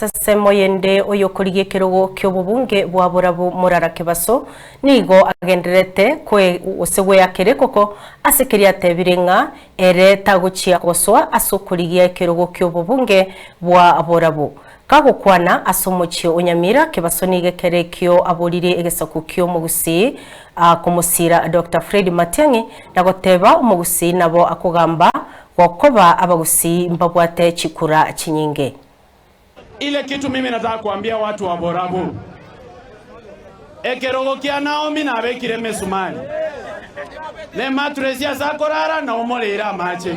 As'ensemo yende oyokorigia ekerogo ki'obobunge bwa borabu morara kebaso, nigo agendererete kwe, gose gweaka erekoko, ase keria atebire ng'a ere tagochia gosoa as'okorigia ekerogo ki'obobunge bwa borabu. Kagokwana as'omochie o Nyamira, kebaso nigo ekere ekio aborire egesaku ki'omogusii komosira Doctor Fred Matiang'i, na goteba omogusii nabo akogamba gokoba abagusii mbabwate chikura chinyinge. Ile kitu mimi nataka kuambia watu wa Borabu, ekerogo kia Naomi nabekire emesumari, na ematuresi ase akorara, na omoreire amache.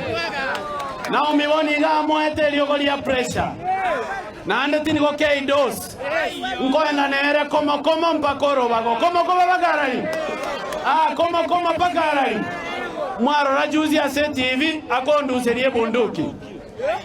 Naomi bono iga amoete eriogo ria pressure, naende tinigo kei dose. Nkoenda nere komo komo mpaka orobago, komo komo mpaka arari, ah, komo komo mpaka arari. Mwarora juzi ase TV akonduseria ebunduki.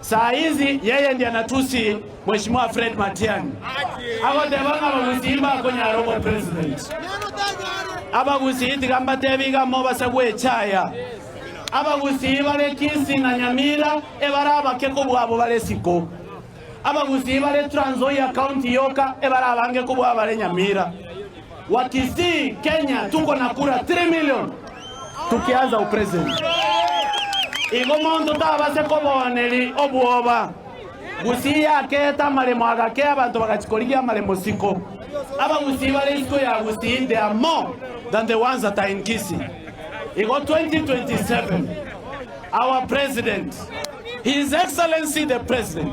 Saizi yeye ndia natusi Mheshimiwa Fred Matiang'i agoteba ng'a abagusii mbakonyara obo president. Abagusii tiga mbatebe iga amo base gwecha aya. Abagusii bare Kisii na Nyamira ebare abake kobua abo bare Siko. Abagusii bare Trans Nzoia county yoka ebare abange kobua abare Nyamira. Wa Kisii Kenya tuko na kura 3 million tukianza upresident. Igo monto tabase kobooneri obwoba. Gusii yakeete amaremo agake abanto bagachi korigia amaremo siko. Abagusii bare isiko ya Gusii they are more than the ones that are in Kisii. Igo 2027 our president his excellency the president